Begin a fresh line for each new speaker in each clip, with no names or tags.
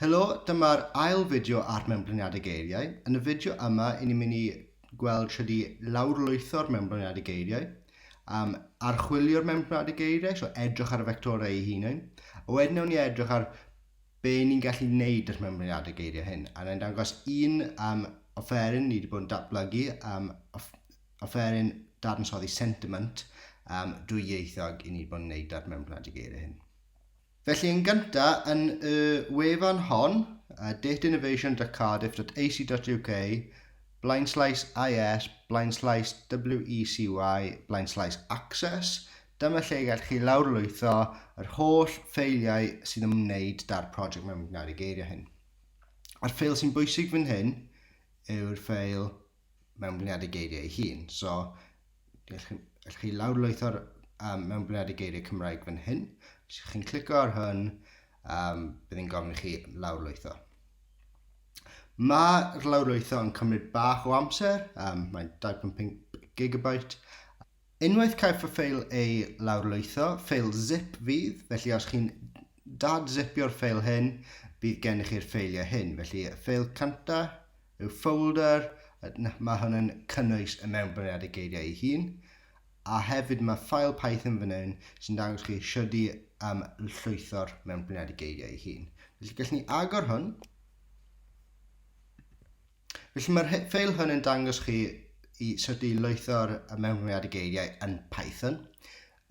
Helo, dyma'r ail fideo ar Mewnblaniadau Geiriau. Yn y fideo yma, i ni'n mynd i gweld sut i lawrlwytho'r Mewnblaniadau Geiriau, um, archwilio'r Mewnblaniadau Geiriau, so edrych ar y fectorau ei hunain, a wedyn newn ni edrych ar be ni'n gallu gwneud â'r Mewnblaniadau Geiriau hyn. A na'n dangos un um, offeryn ni wedi bod yn datblygu, um, offeryn dadansoddi sentiment um, dwyieithog i ni wedi bod yn gwneud â'r Mewnblaniadau Geiriau hyn. Felly yn gynta, yn y wefan hon, dateinnovation.cardiff.ac.uk, blaenslaes IS, blaenslaes WECY, blaenslaes Access, dyma lle y gallwch chi lawrlwytho yr holl ffeiliau sy'n ymwneud da'r project mewn gwneud y geiriau hyn. A'r ffeil sy'n bwysig fan hyn yw'r ffeil mewnblyniad y geiriau ei hun. So, allwch chi lawrlwytho'r um, mewnblyniad y geiriau Cymraeg fan hyn. Os ydych chi'n clicio ar hwn, um, bydd yn gofyn i chi lawrlwytho. Mae'r lawrlwytho yn cymryd bach o amser, um, mae'n 2.5 gigabyte, Unwaith caiff y ffeil ei lawrlwytho, ffeil zip fydd, felly os chi'n dad-zipio'r ffeil hyn, bydd gennych chi'r ffeiliau hyn. Felly y ffeil cynta yw folder, mae hwn yn cynnwys y mewnbwriad y geiriau ei hun, a hefyd mae ffael Python fan hyn sy'n dangos chi siwrd i um, llwytho'r mewnbwriad y geiriau ei hun. Felly gallwn ni agor hwn, Felly mae'r ffeil hwn yn dangos chi i sut i lwytho'r mewnwriad y geiriau yn Python.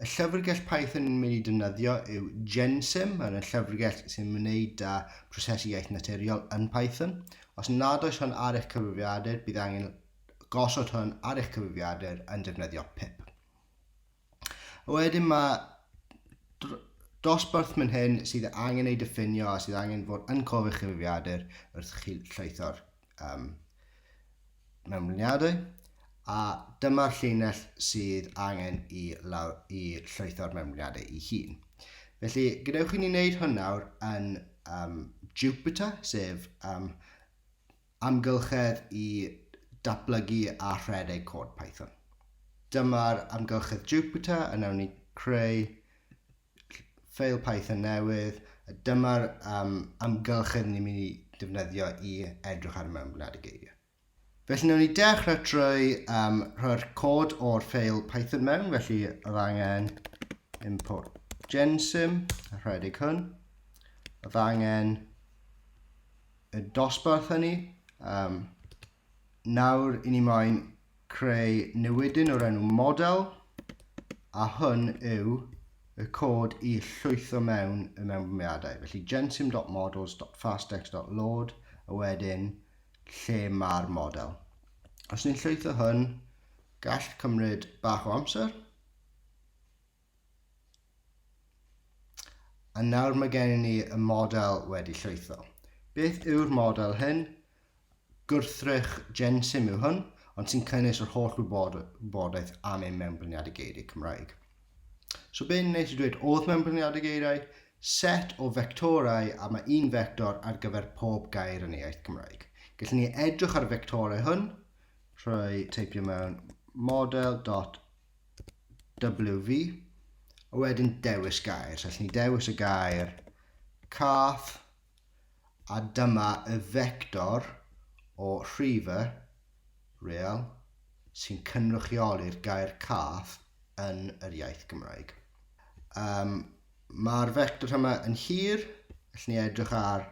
Y llyfrgell Python yn mynd i defnyddio yw Gensim, mae'n yn llyfrgell sy'n wneud â prosesu iaith naturiol yn Python. Os nad oes hwn ar eich cyfrifiadur, bydd angen gosod hwn ar eich cyfrifiadur yn defnyddio pip. Wedyn mae dosbarth mynd hyn sydd angen ei diffinio a sydd angen fod yn cof eich cyfrifiadur wrth chi llaetho'r um, mewnlyniadau a dyma'r llinell sydd angen i, lawr, i llaetho'r mewnlyniadau i hun. Felly, gadewch i ni wneud hwn nawr yn um, Jupyter, sef um, Amgylchedd i datblygu a rhedeg cod Python. Dyma'r amgylchedd Jupyter yn ewn i creu ffeil Python newydd, a dyma'r um, amgylchedd ni'n mynd i defnyddio i edrych ar y mewnbwnad y geiriau. Felly newn ni dechrau trwy um, rhoi'r cod o'r ffeil Python mewn, felly oedd angen import gensim, rhedeg hwn. Oedd angen y dosbarth hynny. Um, nawr i ni moyn creu newidyn o'r enw model a hwn yw y cod i llwytho mewn y mewnbwmiadau. Felly gensim.models.fasttext.load a wedyn lle mae'r model. Os ni'n llwytho hwn, gall cymryd bach o amser. A nawr mae gennym ni y model wedi llwytho. Beth yw'r model hyn? Gwrthrych Gensim yw hwn, ond sy'n cynnwys yr holl wybodaeth am ein mewnblyniadau geiriau Cymraeg. So be'n neis i dweud, oedd mewnblyniadau geiriau, set o fectorau a mae un fector ar gyfer pob gair yn ei iaith Cymraeg. Gallwn ni edrych ar y fectorau hwn, rhoi teipio mewn model dot WV, a wedyn dewis gair. So, allwn ni dewis y gair cath, a dyma y fector o rhife real sy'n cynrychioli'r gair cath yn yr iaith Gymraeg. Um, Mae'r fector yma yn hir, allwn ni edrych ar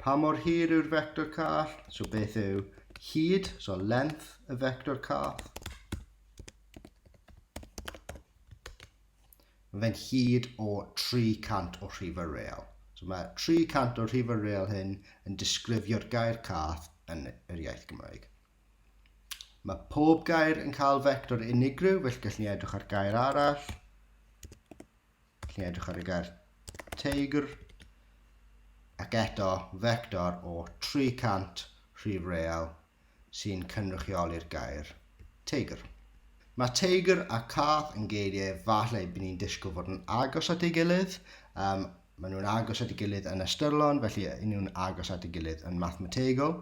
pa mor hir yw'r fector cath, so beth yw hyd, so length y fector cath. Mae fe'n hyd o 300 o rhifau real. So mae 300 o rhifau real hyn yn disgrifio'r gair cath yn yr iaith Gymraeg. Mae pob gair yn cael fector unigryw, felly gallwn ni edrych ar gair arall. Gallwn ni edrych ar y gair teigr. Ac eto, fector o 300 rhif real sy'n cynrychioli'r gair 'teigr'. Mae 'teigr' a 'cath' yn geiriau efallai by ni'n disgwyl fod yn agos at ei gilydd. Um, maen nhw'n agos at ei gilydd yn ystyrlon, felly yn nhw'n agos at ei gilydd yn mathemategol.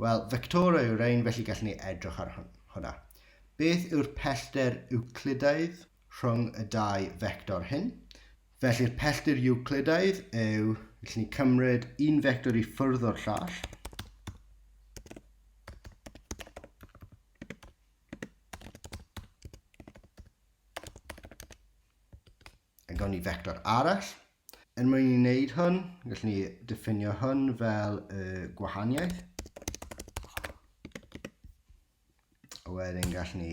Wel, fectorau yw'r ein, felly gallwn ni edrych ar hwnna. Beth yw'r pellter Euclidaidd? rhwng y dau fector hyn. Felly'r pelltir Iwclidaidd yw, felly ni cymryd un fector i ffwrdd o'r llall, a gawn ni fector arall. Er mwyn i ni wneud hwn, gallwn ni diffinio hwn fel y gwahaniaeth. A wedyn gallwn ni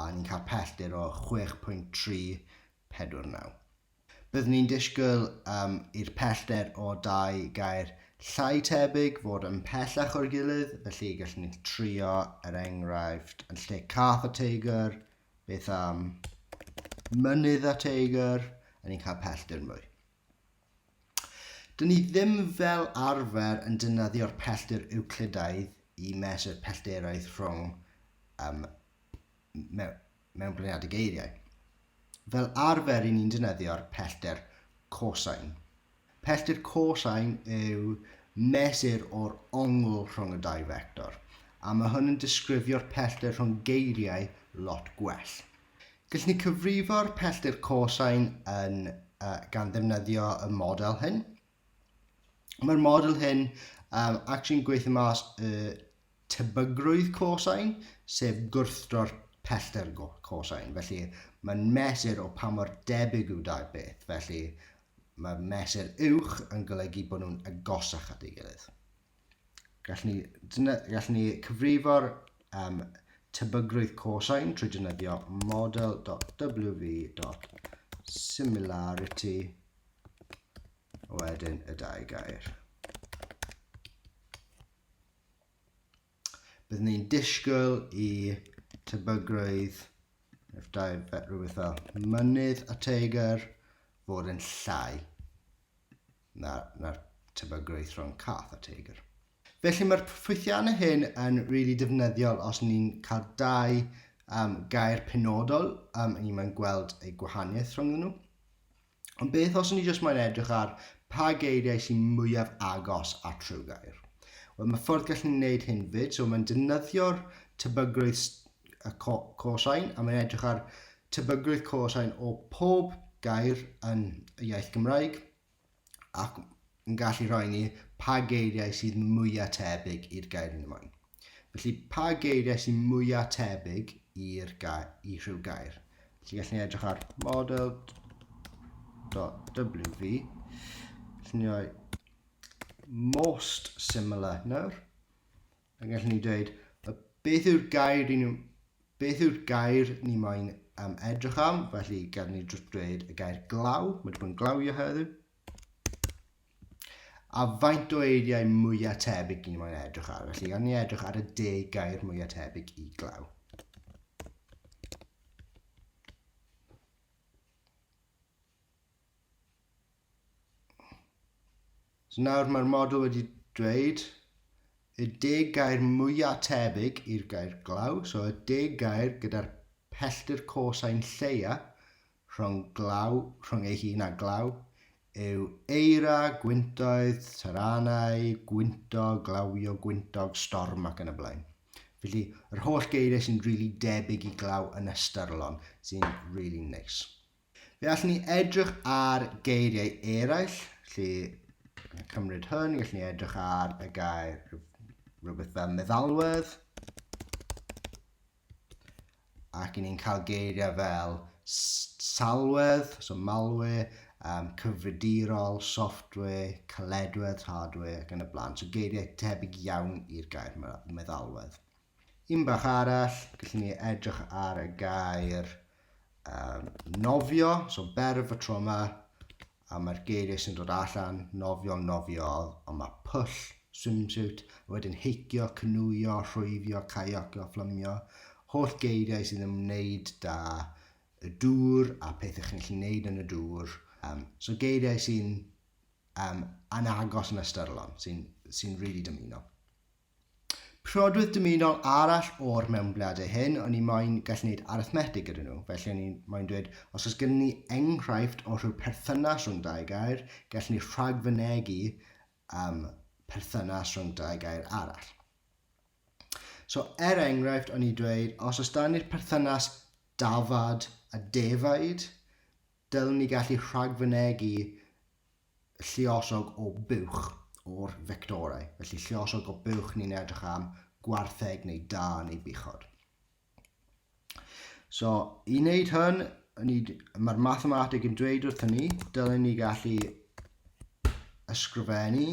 a ni'n cael pellter o 6.349. Byddwn ni'n disgwyl um, i'r pellter o dau gair llai tebyg fod yn pellach o'r gilydd, felly gallwn ni trio er enghraifft yn lle cath a teigr, beth am mynydd a teigr, a ni'n cael pellter mwy. Dyn ni ddim fel arfer yn dynyddio'r pellter Ewclidaidd i mesur pellteroedd rhwng um, mewn bliniadau geiriau. Fel arfer i ni'n dynyddio'r pellter cosine. Pellter cosine yw mesur o'r ongl rhwng y dau fector, a mae hwn yn disgrifio'r pellter rhwng geiriau lot gwell. Gallwn ni cyfrifo'r pellter cosine yn, uh, gan ddefnyddio y model hyn. Mae'r model hyn um, actually'n gweithio mas y tebygrwydd cosine, sef gwrthdro'r pellter cosine. Felly mae'n mesur o pa mor debyg yw dau beth. Felly mae mesur uwch yn golygu bod nhw'n agosach at ei gilydd. Gallwn ni, gallwn ni cyfrifo'r um, tebygrwydd cosine trwy defnyddio model.wv.similarity wedyn y dau gair. Byddwn ni'n disgwyl i tebygrwydd efallai rhywbeth fel mynydd a teigr fod yn llai. na, na'r tebygrwydd rhwng cath a teigr. Felly mae'r ffwythiannau hyn yn rili really defnyddiol os ni'n cael dau um, gair penodol um, ni mae'n gweld ei gwahaniaeth rhwng nhw. Ond beth os ni jyst mae'n edrych ar pa geiriau sy'n mwyaf agos at rhyw gair? Wel, mae ffordd gallen ni wneud hyn fyd, so mae'n defnyddio'r tebygrwydd y cosain a mae'n edrych ar Tebygrwydd cosine o pob gair yn y iaith Gymraeg ac yn gallu rhoi ni pa geiriau sydd mwyaf tebyg i'r gair yn y moen. Felly, pa geiriau sy'n mwyaf tebyg i'r i rhyw gair? Felly, gallwn ni edrych ar model .wv. Gallwn ni roi most similar nawr. Fe gallwn ni dweud, y beth yw'r gair ni, beth yw'r gair ni moyn am edrych am, felly gallwn ni drwy dweud y gair glaw, mae wedi bod yn glawio heddiw, a faint o eiriau mwyaf tebyg ni'n moyn edrych ar. Felly, gan ni edrych ar y deg gair mwyaf tebyg i glaw. So nawr mae'r model wedi dweud y deg gair mwyaf tebyg i'r gair glaw, so y deg gair gyda'r pellter cosau'n lleia rhwng glaw, rhwng ei hun a glaw, yw eira, gwyntoedd, taranau, gwynto, glawio, gwyntog, storm ac yn y blaen. Felly, yr holl geiriau sy'n rili really debyg i glaw yn ystyrlon, sy'n rili really neis. Nice. Fe allwn ni edrych ar geiriau eraill, lle cymryd hyn, gallwn ni edrych ar y gair rhywbeth fel meddalwedd, ac ni'n cael geiriau fel salwedd, so malware, um, cyfridirol, software, caledwedd, hardware ac yn y blaen. So geiriau tebyg iawn i'r gair meddalwedd. Un bach arall, gallwn ni edrych ar y gair um, nofio, so berf y tro yma, a mae'r geiriau sy'n dod allan, nofio, nofiodd, ond mae pwll, swimsuit, a wedyn heicio, cynwyo, rhwyfio, caiocio, fflymio, holl geiriau sy'n ymwneud da y dŵr a pethau chi'n gallu gwneud yn y dŵr. Um, so geiriau sy'n um, anagos yn ystyrlon, sy'n sy rili really dymuno. Prodwydd dymunol arall o'r mewnbladau hyn, o'n i moyn gallu gwneud arithmetig gyda nhw, felly o'n i moyn dweud, os oes gen ni enghraifft o rhyw perthynas rhwng dau gair, gallen ni rhagfynegu um, perthynas rhwng dau gair arall. So, er enghraifft, o'n i dweud, os oes dan ni'r perthynas dafad a defaid, dylwn ni gallu rhagfynegu lluosog o buwch o'r fectorau. Felly lluosog o buwch ni'n edrych am gwartheg neu da neu buchod. So, i wneud hyn, mae'r mathemateg yn dweud wrthyn ni, dylen ni gallu ysgrifennu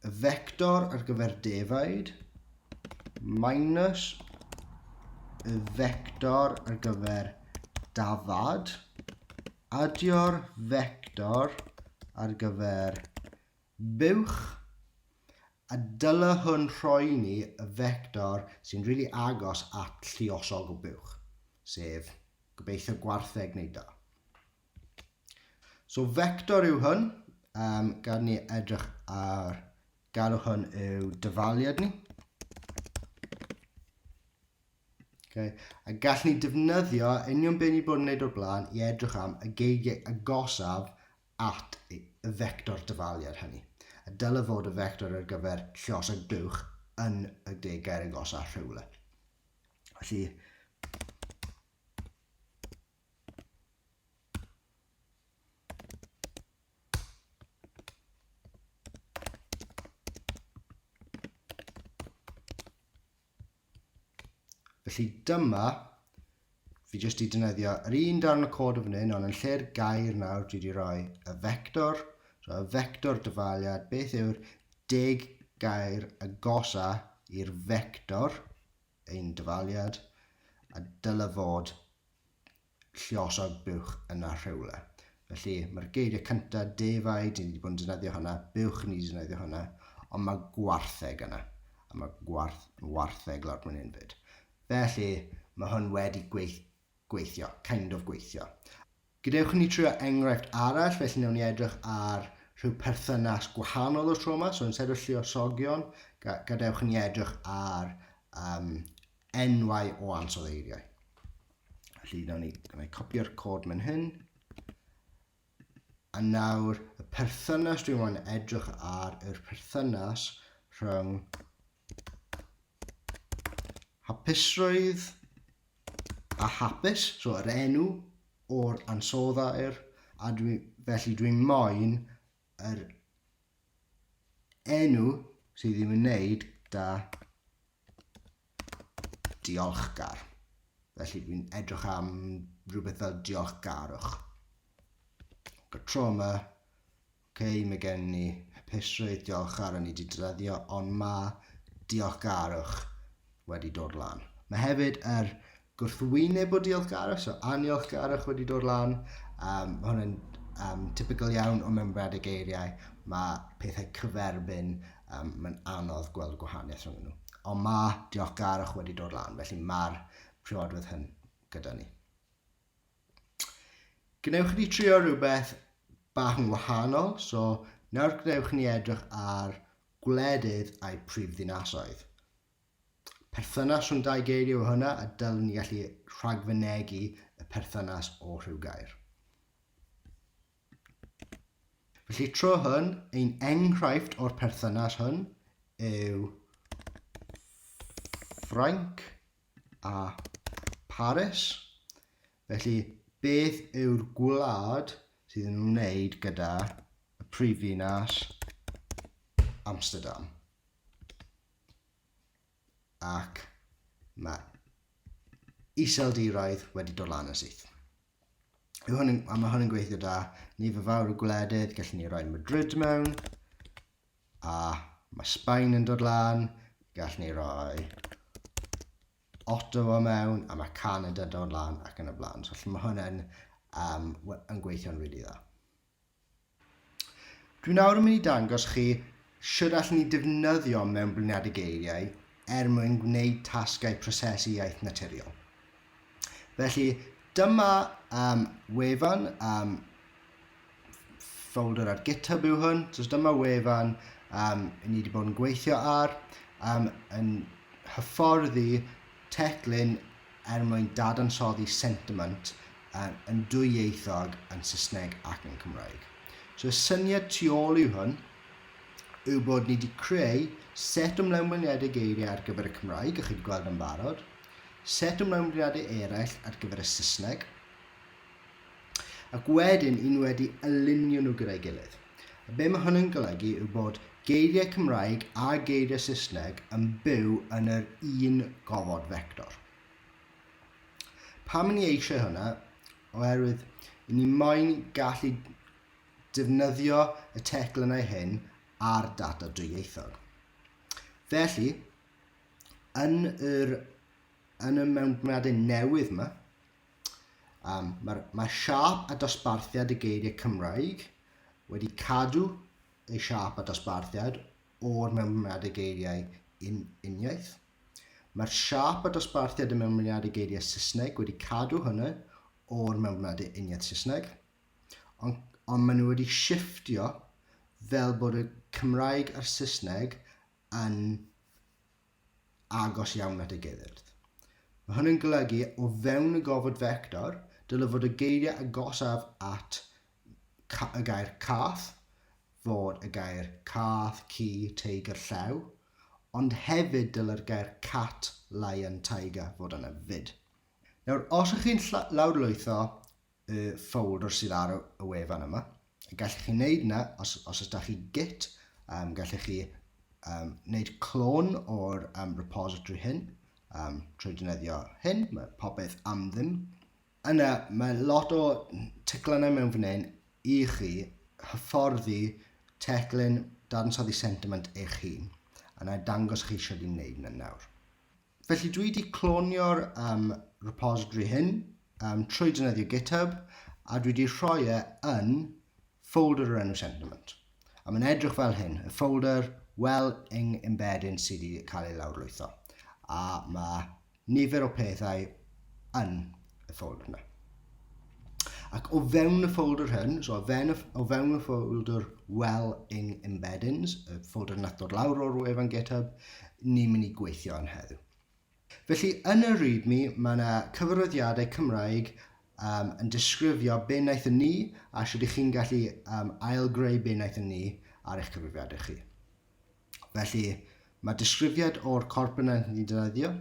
y vector ar gyfer defaid minus y vector ar gyfer dafad, adio'r vector ar gyfer buwch, a dyla hwn rhoi ni y vector sy'n rili really agos at lliosog o buwch, sef gobeithio gwartheg neu da. So vector yw hwn, um, gad ni edrych ar galw hwn yw dyfaliad ni. Okay. A gall ni defnyddio union beth ni bod yn gwneud o'r blaen i edrych am y geigiau agosaf at y vector dyfaliad hynny. A dyle fod y vector ar gyfer llos a glwch yn y degau agosaf rhywle. Felly, Felly dyma, fi jyst i dynyddio yr un darn o cod o fan hyn, ond yn lle'r gair nawr dwi wedi rhoi y vector, so y vector dyfaliad, beth yw'r deg gair agosa i'r vector, ein dyfaliad, a dyle fod lluosog buwch yna rhywle. Felly, mae'r geiriau cynta, defaid, ni wedi bod yn defnyddio hwnna, buwch ni wedi defnyddio hwnna, ond mae gwartheg yna, a mae gwarth, wartheg lawr mwyn hyn fyd. Felly, mae hwn wedi gweith, gweithio, kind of gweithio. Gadewch ni trio enghraifft arall, felly newn ni edrych ar rhyw perthynas gwahanol o'r tro yma, so yn sed o lluosogion, gadewch ni edrych ar um, enwau o ansoddeiriau. Felly, nawn ni gwneud copio'r cod mewn hyn. A nawr, y perthynas dwi'n mwyn edrych ar yr perthynas rhwng hapusrwydd a hapus, so yr enw o'r ansoddair, a dwi, felly dwi'n moyn yr enw sydd ddim yn neud da diolchgar. Felly fi'n edrych am rhywbeth fel diolchgarwch. Got trauma. Okay, mae gen ni hapusrwydd diolchgar o'n i wedi dyddio, ond mae diolchgarwch wedi dod lan. Mae hefyd yr gwrthwyneb o diolchgarwch, so aniolchgarwch wedi dod lan. Um, mae hwn yn um, typical iawn o membrad y geiriau. Mae pethau cyferbyn, um, mae'n anodd gweld y gwahaniaeth rhwng nhw. Ond mae diolchgarwch wedi dod lan, felly mae'r priodwyd hyn gyda ni. Gwnewch chi trio rhywbeth bach yn wahanol, so nawr gwnewch ni edrych ar gwledydd a'i prif ddinasoedd. Perthynas rhwng dau geiriau yw hwnna a dylwn ni gallu rhagfynegi y perthynas o rhyw gair. Felly tro hwn, ein enghraifft o'r perthynas hwn yw Ffrainc a Paris. Felly, beth yw'r gwlad sydd yn wneud gyda y prifddinas Amsterdam? ac mae iseldiraidd wedi dod lan yn syth. Mae hwn yn, a mae hwn yn gweithio da. Ni fy fawr o gwledydd, gallwn ni roi Madrid mewn. A mae Sbaen yn dod lan, gallwn ni roi Ottawa mewn, a mae Canada yn dod lan ac yn y blaen. So, mae hwn yn, um, yn gweithio'n rili really dda. Dwi nawr yn mynd i dangos chi sut allwn ni defnyddio mewnbliniadau geiriau er mwyn gwneud tasgau prosesu iaith naturiol. Felly, dyma um, wefan um, folder ar GitHub yw hwn. So dyma wefan um, ni wedi bod yn gweithio ar um, yn hyfforddi Teclyn er mwyn dadansoddi sentiment yn dwyieithog yn Saesneg ac yn Cymraeg. So y syniad tu ôl yw hwn yw bod ni wedi creu set o mlaenbliniadau geiriau ar gyfer y Cymraeg, a chi wedi gweld yn barod, set o mlaenbliniadau eraill ar gyfer y Saesneg, Ac wedyn un wedi ylunio nhw gyda'i gilydd. A be mae hynny'n golygu yw bod geiriau Cymraeg a geiriau Saesneg yn byw yn yr un gofod fector. Pam ni eisiau hwnna? Oherwydd i ni moyn gallu defnyddio y teclynnau hyn ar data dwyieithog. Felly, yn yr yn y mewnbwnadau newydd yma, Um, Mae'r mae siap a dosbarthiad y geiriau Cymraeg wedi cadw ei siap a dosbarthiad o'r mewnblyniadau geiriau un, uniaith. Mae'r siap a dosbarthiad y mewnblyniadau geiriau Saesneg wedi cadw hynny o'r mewnblyniadau uniaith Saesneg, ond, ond maen nhw wedi shifftio fel bod y Cymraeg a'r Saesneg yn agos iawn at y geirdd. Mae hwn yn golygu, o fewn y gofod fector, dylai fod y geiriau agosaf at y gair cath fod y gair cath, ci, teigr, llew, ond hefyd dylai'r gair cat, lion, tiger fod yna 'fyd. Nawr, os ych chi'n lawrlwytho y ffoldr sydd ar y wefan yma. Gallwch chi wneud na, os, os ydych chi git, um, gallwch chi um, wneud clon o'r um, repository hyn um, trwy defnyddio hyn, mae popeth am ddim. Yna, mae lot o teclynau mewn fan hyn i chi hyfforddi teclyn dadansoddi sentiment eich hun. Yna, dangos chi eisiau di wneud yna nawr. Felly dwi wedi clonio'r um, repository hyn um, trwy dynyddio GitHub a dwi wedi rhoi e yn folder o'r enw Sentiment. A mae'n edrych fel hyn, y folder well yng embedding sydd wedi cael ei lawrlwytho. A mae nifer o pethau yn y ffoldr yna. Ac o fewn y ffoldr hyn, so o fewn y, o fewn y ffoldr Welling Embeddings, y ffoldr nath dod lawr o'r wefan GitHub, ni'n mynd i gweithio yn heddiw. Felly, yn y README, mae yna cyfarwyddiadau Cymraeg um, yn disgrifio be wnaeth yn ni a sut ych chi'n gallu um, ailgreu be wnaeth yn ni ar eich cyfrifiadau chi. Felly, mae disgrifiad o'r corp yna ni'n defnyddio.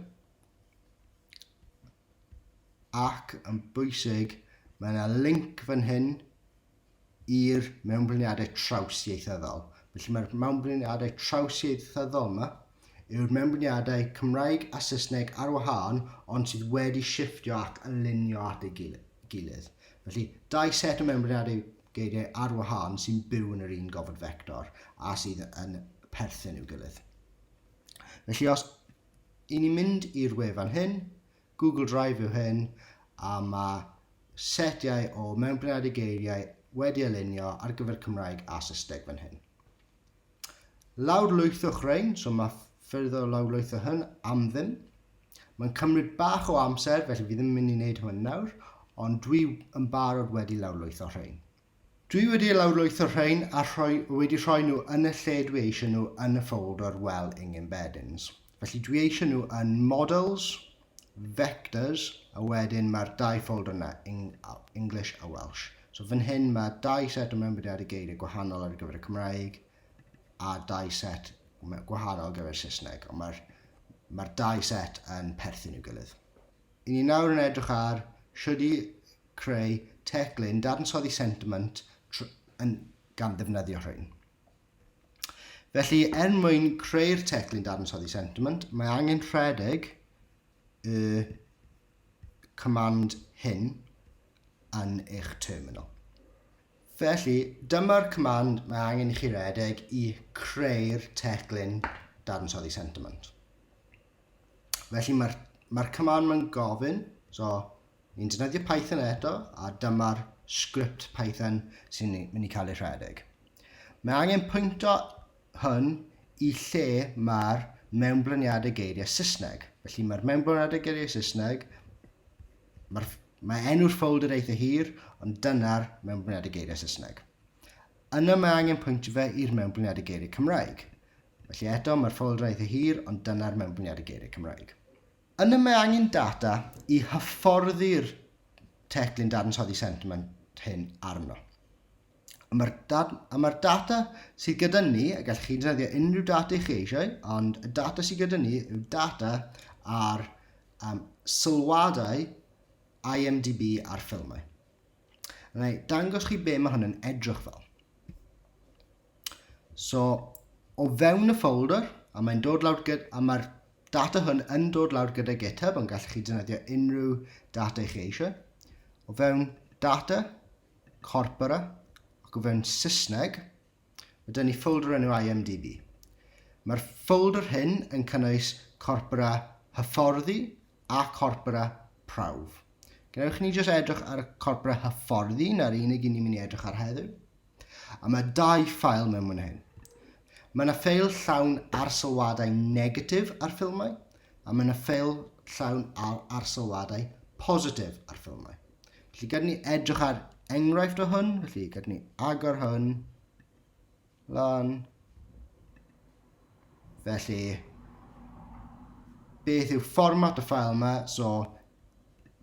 ac yn bwysig, mae yna linc fan hyn i'r mewnbliniadau trawsieithyddol. Felly mae'r mewnbliniadau trawsieithyddol yma yw'r mewnbliniadau Cymraeg a Saesneg ar wahân ond sydd wedi shiftio ac alinio at ei gilydd. Felly, dau set o mewnbliniadau geiriau ar wahân sy'n byw yn yr un gofod fector a sydd yn perthyn i'w gilydd. Felly os I ni'n mynd i'r wefan hyn, Google Drive yw hyn, a mae setiau o mewnbryniadu geiriau wedi ei lunio ar gyfer Cymraeg a Saesneg fan hyn. Lawrlwythwch rhain, so mae ffyrdd o lawrlwytho hyn am ddim. Mae'n cymryd bach o amser, felly fi ddim yn mynd i wneud hwn nawr, ond dwi yn barod wedi lawrlwytho rhain. Dwi wedi lawrlwytho rhein a rhoi, wedi rhoi nhw yn y lle dwi eisiau nhw yn y ffoldr well ing embeddings. Felly dwi eisiau nhw yn models, vectors, a wedyn mae'r dau ffoldr yna, English a Welsh. So fan hyn mae dau set o mewnbediadau geiriau gwahanol ar gyfer y Cymraeg a dau set gwahanol ar gyfer y Saesneg, ond mae'r mae dau set yn perthyn i'w gilydd. I ni nawr yn edrych ar sut i creu teclyn dadansoddi sentiment yn gan ddefnyddio rhain. Felly, er mwyn creu'r teclyn dadansoddi sentiment, mae angen rhedeg y command hyn yn eich terminal. Felly, dyma'r command mae angen i chi redeg i creu'r teclyn dadansoddi sentiment. Felly, mae'r mae command mae'n gofyn, so Ni'n defnyddio Python eto, a dyma'r sgript Python sy'n mynd i cael ei rhedeg. Mae angen pwynto hwn i lle mae'r mewnblyniadau geiriau Saesneg. Felly mae'r mewnblyniadau geiriau Saesneg, mae'r Mae enw'r ffolder eitha hir, ond dyna'r mewnblyniadau geiriau Saesneg. Yna mae angen pwyntio fe i'r mewnblyniadau geiriau Cymraeg. Felly eto, mae'r ffolder eitha hir, ond dyna'r mewnblyniadau geiriau Cymraeg. Yna mae angen data i hyfforddi'r teclyn dadansoddi sentiment hyn arno. A mae'r ma data sydd gyda ni, a gallwch chi ddefnyddio unrhyw data i chi eisiau, ond y data sydd gyda ni yw data ar um, sylwadau IMDb ar ffilmau. Rhaid dangos chi be mae hwn yn edrych fel. So, o fewn y folder, a mae'n dod lawr gyda, a mae'r data hwn yn dod lawr gyda GitHub, ond gallwch chi defnyddio unrhyw data i chi eisiau. O fewn data, corpora, ac o fewn Saesneg, mae dyn ni folder enw IMDB. Mae'r folder hyn yn cynnwys corpora hyfforddi a corpora prawf. Gwnewch ni jyst edrych ar y corpora hyfforddi, na'r unig i ni'n mynd i edrych ar heddiw. A mae dau ffael mewn fan hyn. Mae yna ffeil llawn arsylwadau negatif ar ffilmau, a mae yna ffeil llawn ar arsylwadau positif ar ffilmau. Felly gydyn ni edrych ar enghraifft o hwn, felly gydyn ni agor hwn, lan. Felly, beth yw fformat y ffael yma? So,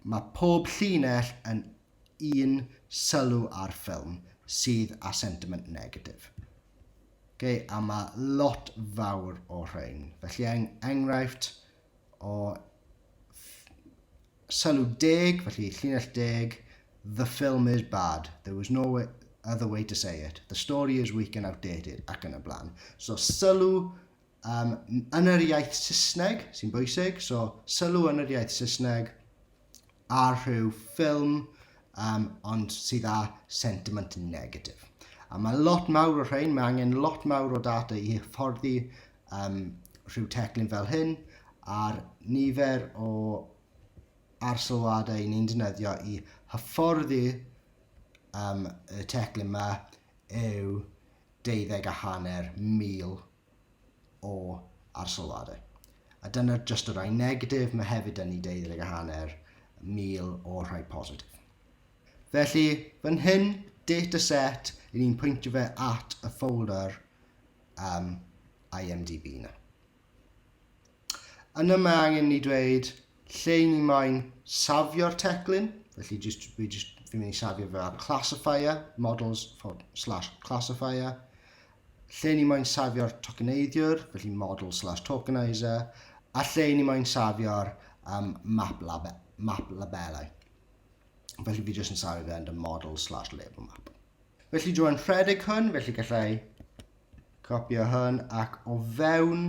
mae pob llinell yn un sylw ar ffilm sydd â sentiment negatif. Okay, a mae lot fawr o rhain. Felly eng enghraifft o sylw deg, felly llinell deg, the film is bad, there was no way, other way to say it, the story is weak and outdated, ac yn y blaen. So sylw um, yn yr iaith Saesneg sy'n bwysig, so sylw yn yr iaith Saesneg, a rhyw ffilm um, ond sydd â sentiment negatif. A mae lot mawr o rhain, mae angen lot mawr o data i hyfforddi um, rhyw teclyn fel hyn a'r nifer o arsylwadau ni'n defnyddio i hyfforddi um, y teclyn yma yw deuddeg a hanner mil o arsyllwadau. A dyna jyst y rhai negatif, mae hefyd yn ni deuddeg a hanner mil o'r rhai positif. Felly, fan hyn, dataset, i ni'n pwyntio fe at y folder um, IMDb na. Yn y mae angen ni dweud lle ni moyn safio'r teclyn, felly just, fi just, fi'n mynd i safio fe ar classifier, models for slash classifier, lle ni moyn safio'r tokeneiddiwr, felly model slash tokenizer, a lle ni moyn safio'r um, map, labe, map labelau. Felly fi jyst yn safio fe yn y model slash label map. Felly dwi'n rhedeg hwn, felly gallai copio hwn ac o fewn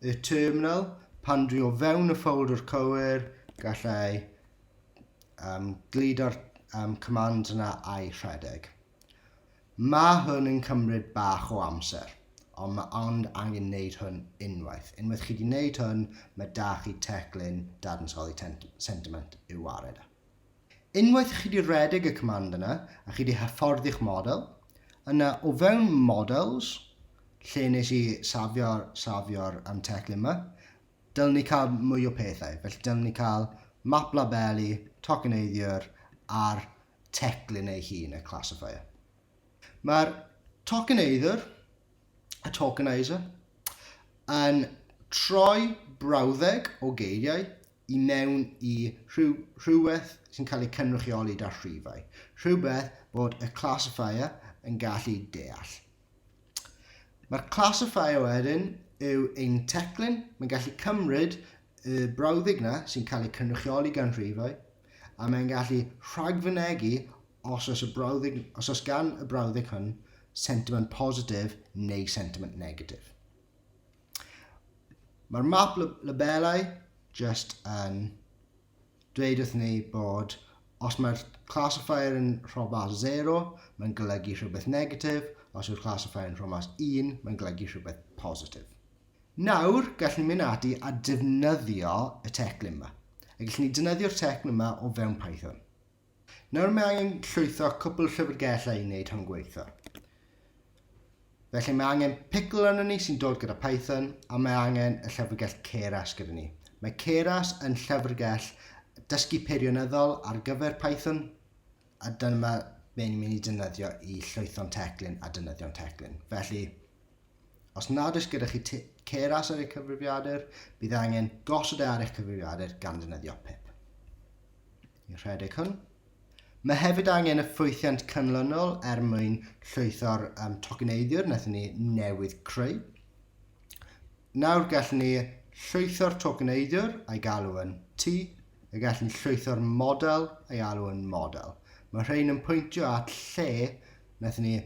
y terminal, pan dwi o fewn y ffoldr cywir, gallai um, gludo'r um, command yna a'i rhedeg. Mae hwn yn cymryd bach o amser, ond mae ond angen wneud hwn unwaith. Unwaith chi wedi wneud hwn, mae da chi teclyn dadansoddi sentiment i'w wared. Unwaith chi 'di rhedeg y command yna a chi 'di hyfforddi'ch model, yna o fewn models, lle nes i safio'r safio'r um, teclyn yma, dylwn ni cael mwy o pethau. Felly dylwn ni cael map labelu, tokeneiddiwr a'r teclyn ei hun, y classifier. Mae'r tokeneiddiwr, y tokenizer, yn troi brawddeg o geiriau i mewn i rhywbeth sy'n cael ei cynrychioli da rhifau, rhywbeth bod y classifier yn gallu deall. Mae'r classifier wedyn yw ein teclyn, mae'n gallu cymryd y brawddeg na sy'n cael ei cynrychioli gan rhifau, a mae'n gallu rhagfynegu os oes, y brawddeg, os oes gan y brawddeg hwn sentiment positif neu sentiment negatif. Mae'r map labelau just yn dweud wrth ni bod os mae'r classifier yn rhobas 0, mae'n golygu rhywbeth negatif, os yw'r classifier yn rhobas 1, mae'n golygu rhywbeth positif. Nawr, gallwn ni mynd ati a defnyddio y teclyn yma. A gallwn ni defnyddio'r teclyn yma o fewn Python. Nawr mae angen llwytho cwpl llyfrgellau i wneud hwn gweithio. Felly mae angen pickle arno ni sy'n dod gyda Python a mae angen y llyfrgell Keras gyda ni. Mae Keras yn llyfrgell dysgu peirionyddol ar gyfer Python a dyma be ni'n mynd i defnyddio i llwytho'n teclyn a defnyddio'n teclyn. Felly, os nad oes gyda chi Keras ar eich cyfrifiadur, bydd angen gosod e ar eich cyfrifiadur gan ddefnyddio pip. Ni'n rhedeg hwn. Mae hefyd angen y ffwythiant canlynol er mwyn llwytho'r um, tokeneiddiwr wnaethon ni newydd creu. Nawr gallwn ni llwytho'r tokeneiddiwr a'i galw yn T, a gallwn ni llwytho'r model a'i alw yn model. Mae rhain yn pwyntio at lle wnaethon ni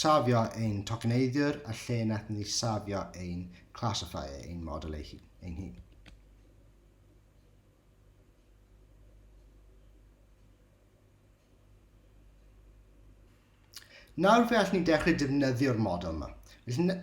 safio ein tokeneiddiwr a lle wnaethon ni safio ein classifier, ein model ei hun. Nawr fe allwn ni dechrau defnyddio'r model yma. Felly,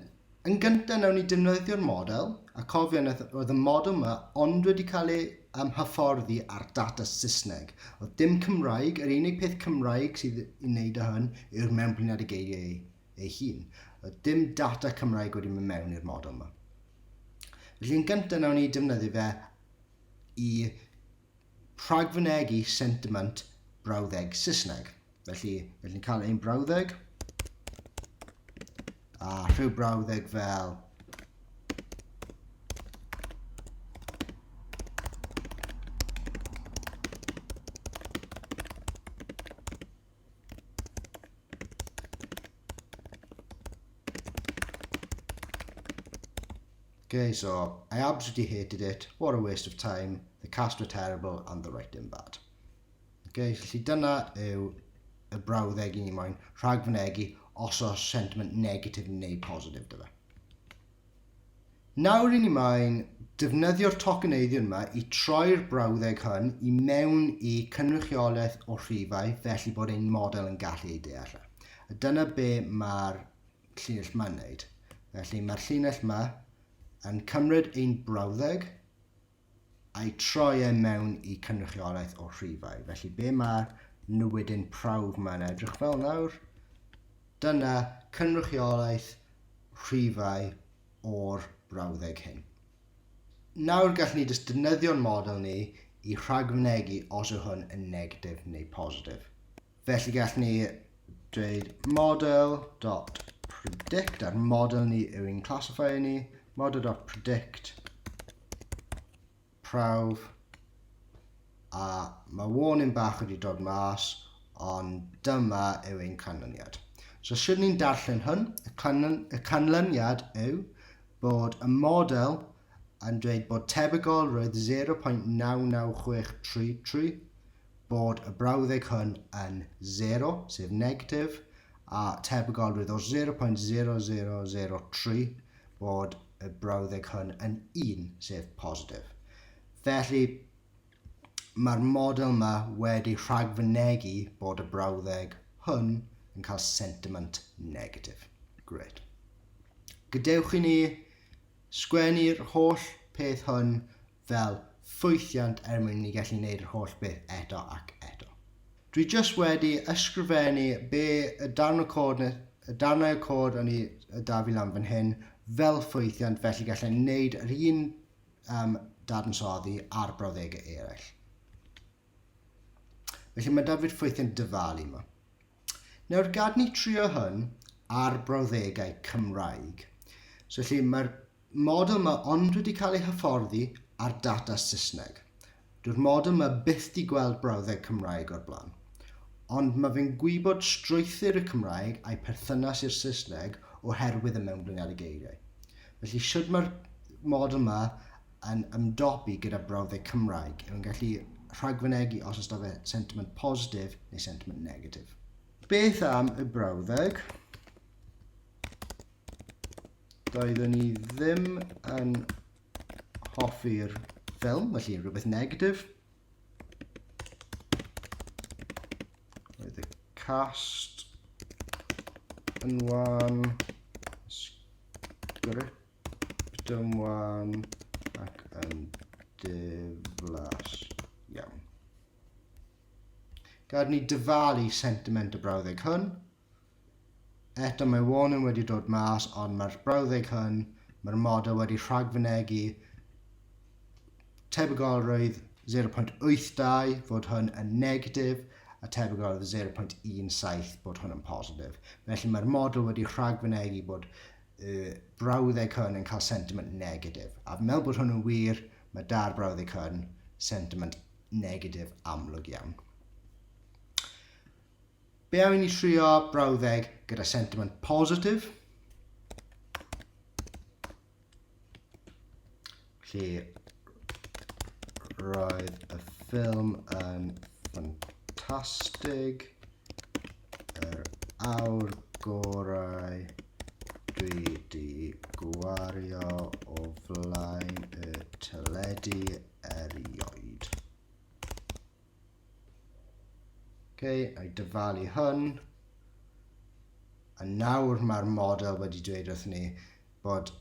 yn gyntaf, nawn ni defnyddio'r model, a cofio na oedd y model yma ond wedi cael ei um, hyfforddi ar data Saesneg. Oedd dim Cymraeg, yr unig peth Cymraeg sydd i wneud â hyn yw'r mewnbliniad y geiriau ei, ei hun. Oedd dim data Cymraeg wedi mynd mewn i'r model yma. Felly, yn gyntaf, nawn ni defnyddio fe i rhagfynegi sentiment brawddeg Saesneg. Felly, felly ni'n cael ein brawddeg a rhyw brawddeg fel Okay, so I absolutely hated it. What a waste of time. The cast were terrible and the writing bad. Okay, felly dyna yw y brawddeg i ni moyn rhag fynegu os oes sentiment negatif neu positif dy fe. Nawr i ni mlaen, defnyddio'r tocyneiddion yma i troi'r brawddeg hwn i mewn i cynrychiolaeth o rhifau felly bod ein model yn gallu ei deall. E. A dyna be mae'r llinell yma'n wneud. Felly mae'r llinell yma yn cymryd ein brawddeg a'i troi e mewn i cynrychiolaeth o rhifau. Felly be mae newidyn prawf mae'n edrych fel nawr? Dyna cynrychiolaeth rhifau o'r brawddeg hyn. Nawr gallwn ni jyst defnyddio'n model ni i rhagfynegu os yw hwn yn negatif neu positif. Felly gall ni dweud model.predict a'r model ni yw ein classifier ni, model.predict prawf a mae warning bach wedi dod mas ond dyma yw ein canlyniad. So sydd ni'n darllen hwn, y, canlyn, y canlyniad yw bod y model yn dweud bod tebygol roedd 0.99633 bod y brawddeg hwn yn sero, sef negatif, a tebygolrwydd o 0.0003 bod y brawddeg hwn yn 1, sef positif. Felly, mae'r model yma wedi rhagfynegu bod y brawddeg hwn yn cael sentiment negatif. Gret. Gadewch i ni sgwennu'r holl peth hwn fel ffwythiant er mwyn i ni gallu neud yr holl beth eto ac eto. Dwi jyst wedi ysgrifennu be y darn o cod ne, y darnau o cod o'n i y da fi lan fan hyn fel ffwythiant felly gallai wneud yr un um, dadansoddi ar brawddegau eraill. Felly mae da fi'r ffwythiant dyfalu yma. Nawr gad ni trio hwn ar brawddegau Cymraeg. So felly mae'r model 'ma ond wedi cael ei hyfforddi ar data Saesneg. Dyw'r model 'ma byth di gweld brawddeg Cymraeg o'r blaen. Ond mae fe'n gwybod strwythur y Cymraeg a'i perthynas i'r Saesneg oherwydd y mewnblyniad y geiriau. Felly sut mae'r model 'ma yn ymdopi gyda brawddeg Cymraeg? Yw'n gallu rhagfynegi os oes da fe sentiment positif neu sentiment negatif? Beth am y brawddeg? doeddwn i ddim yn hoffi'r ffilm, felly rhywbeth negatif. Roedd y cast yn wan, sgript yn wan ac yn diflas iawn. Gad ni dyfalu sentiment y brawddeg hwn. Eto mae warning wedi dod mas ond mae'r brawddeg hwn, mae'r model wedi rhagfynegu tebygolrwydd 0.82 fod hwn yn negatif a tebygolrwydd 0.17 bod hwn yn positif. Felly mae'r model wedi rhagfynegu bod y brawddeg hwn yn cael sentiment negatif. A fi'n meddwl bod hwn yn wir, mae da'r brawddeg hwn sentiment negatif amlwg iawn. Be am i ni trio brawddeg gyda sentiment positif? Felly, roedd y ffilm yn ffantastig, yr awr gorau dwi di gwario o flaen y teledu erioed. Okay, a i dyfalu hwn. A nawr mae'r model wedi dweud wrth ni bod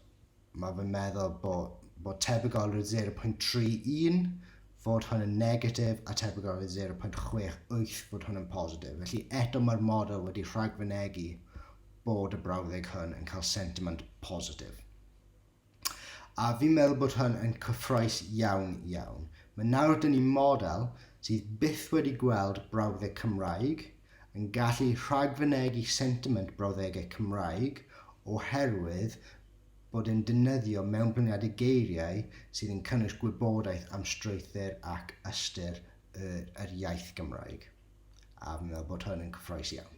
mae fy meddwl bod, bod tebygolrwydd 0.31 fod hwn yn negatif a tebygolrwydd 0.68 fod hwn yn positif. Felly eto mae'r model wedi rhagfynegu bod y brawddeg hwn yn cael sentiment positif. A fi'n meddwl bod hwn yn cyffroes iawn, iawn. Mae nawr dyn ni model sydd byth wedi gweld brawddeg Cymraeg yn gallu rhagfynegi sentiment brawddegau Cymraeg oherwydd bod e'n defnyddio mewnblyniadau geiriau sydd yn cynnwys gwybodaeth am strwythur ac ystyr yr iaith Gymraeg. A fi'n meddwl bod hwn yn cyffroes iawn.